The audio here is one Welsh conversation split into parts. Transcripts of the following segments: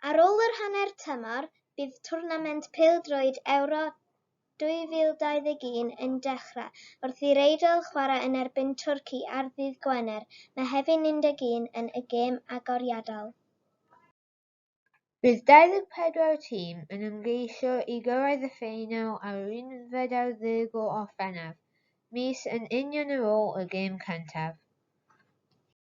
Ar ôl yr hanner tymor, bydd twrnament pêl-droed Ewro 2021 yn dechrau, wrth i'r Eidal chwarae yn erbyn Twrci ar ddydd Gwener, Mehefin 11, yn y gêm agoriadol. Bydd 24 tîm yn ymgeisio i gyrraedd y ffeinal ar yr unfed ar ddeg o Orffennaf, mis yn union ar ôl y gêm cyntaf.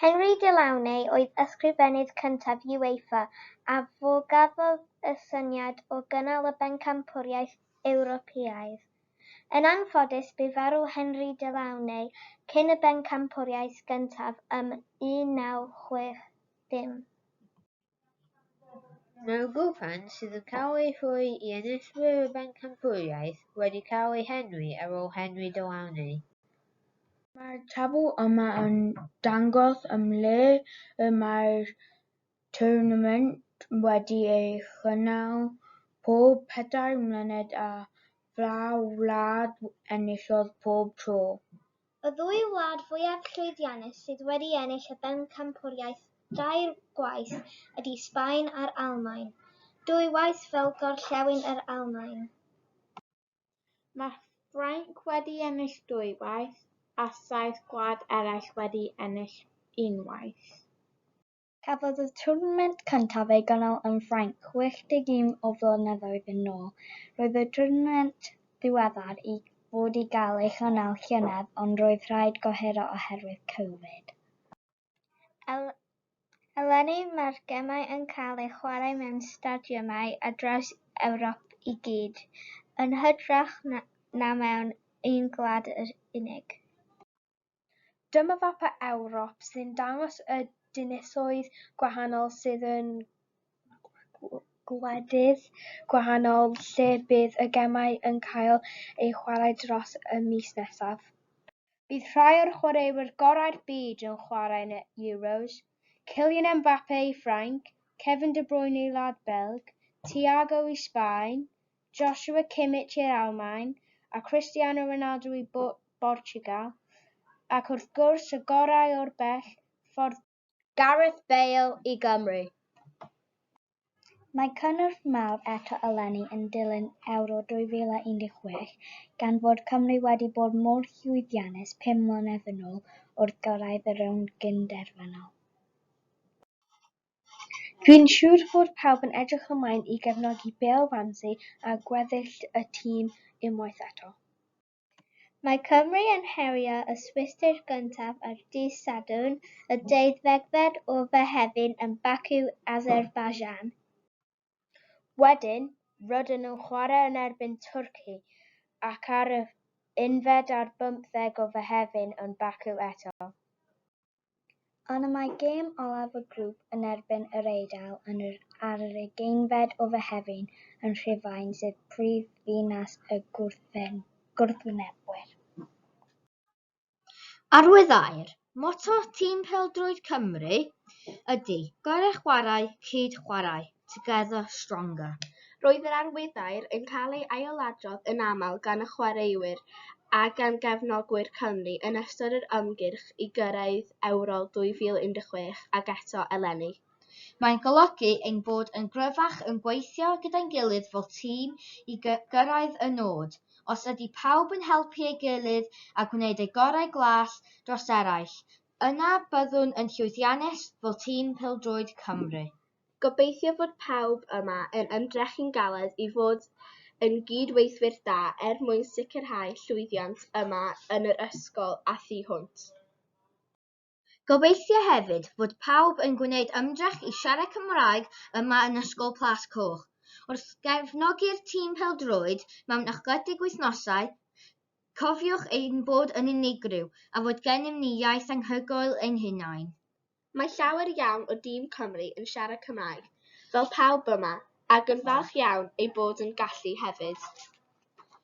Henry Delaunay oedd ysgrifennydd cyntaf UEFA a fo gafodd y syniad o gynnal y Bencampwriaeth Ewropeaidd. Yn anffodus bu farw Henry Delaunay cyn y Bencampwriaeth gyntaf ym 1960. Mae'r grŵp hyn, sydd yn cael ei rhoi i enillwyr y bencampwriaeth, wedi cael ei henwi ar ôl henwi De Launay. Mae'r tabl yma yn dangos ym mhle y mae'r twrnament wedi ei chynnal pob pedair mlynedd a pha wlad enillodd pob tro. Y ddwy wlad fwyaf llwyddiannus sydd wedi ennill y Bencampwriaeth dair gwaith ydy Sbaen a'r Almaen, dwy waith fel gorllewin yr Almaen. Mae Ffrainc wedi ennill dwy waith a saith gwlad eraill wedi ennill unwaith. Cafodd y twrnament cyntaf ei gynnal yn Ffrainc 61 o flynyddoedd yn ôl. Roedd y twrnament ddiweddar i fod i gael ei chynnal llynedd ond roedd rhaid gohiro oherwydd Covid. Eleni mae'r gemau yn cael eu chwarae mewn stadiymau ar draws Ewrop i gyd, yn hytrach na mewn un gwlad yn unig. Dyma fapau Ewrop sy'n dangos y dinasoedd gwahanol sydd yn gwledydd gwahanol lle bydd y gemau yn cael eu chwarae dros y mis nesaf. Bydd rhai o'r chwaraewyr gorau'r byd yn chwarae yn y Euros, Kylian Mbappe i Ffrainc, Kevin De Bruyne i wlad Belg, Thiago i Sbaen, Joshua Kimmich i'r Almaen, a Cristiano Ronaldo i Bortiwgal, ac wrth gwrs y gorau o'r bell ffordd, Gareth Bale i Gymru! Mae cynnwrf mawr eto eleni yn dilyn Ewro 2016, gan fod Cymru wedi bod mor llwyddiannus pum mlynedd yn ôl wrth gyrraedd y rownd gyn-derfynol. Dwi'n siŵr fod pawb yn edrych ymlaen i gefnogi Bale Ramsey a gweddill y tîm unwaith eto. Mae Cymru yn herio y Swistir gyntaf ar dydd Sadwrn, y deuddegfed o Fehefin yn Baku, Azerbaijan. Wedyn, roedden nhw'n chwarae yn erbyn Twrci ac ar yr unfed ar bymtheg o Fehefin yn Baku eto. Ond y mae gêm olaf y grŵp yn erbyn yr Eidal yn yr ar yr ugeinfed o Fehefin yn Rhufain sydd prifddinas y gwrthwynebwyr. Arwyddair, moto tîm pêl-droed Cymru ydy, gorau chwarae, cyd chwarae, together stronger. Roedd yr arwyddair yn cael ei ailadrodd yn aml gan y chwaraewyr a gan gefnogwyr Cymru yn ystod yr ymgyrch i gyrraedd Ewro 2016 ac eto eleni. Mae'n golygu ein bod yn gryfach yn gweithio gyda'n gilydd fel tîm i gyrraedd y nod. Os ydy pawb yn helpu ei gilydd a gwneud eu gorau glas dros eraill, yna byddwn yn llwyddiannus fel tîm pêl-droed Cymru. Gobeithio fod pawb yma yn ymdrechu'n galed i fod yn gyd-weithwyr da er mwyn sicrhau llwyddiant yma yn yr ysgol a thu hwnt. Gobeithio hefyd fod pawb yn gwneud ymdrech i siarad Cymraeg yma yn Ysgol Plas Coch. Wrth gefnogi'r tîm pêl-droed mewn ychledig wythnosau, cofiwch ein bod yn unigryw a fod gennym ni iaith anhygoel ein hunain. Mae llawer iawn o dîm Cymru yn siarad Cymraeg, fel pawb yma, ac yn falch iawn eu bod yn gallu hefyd.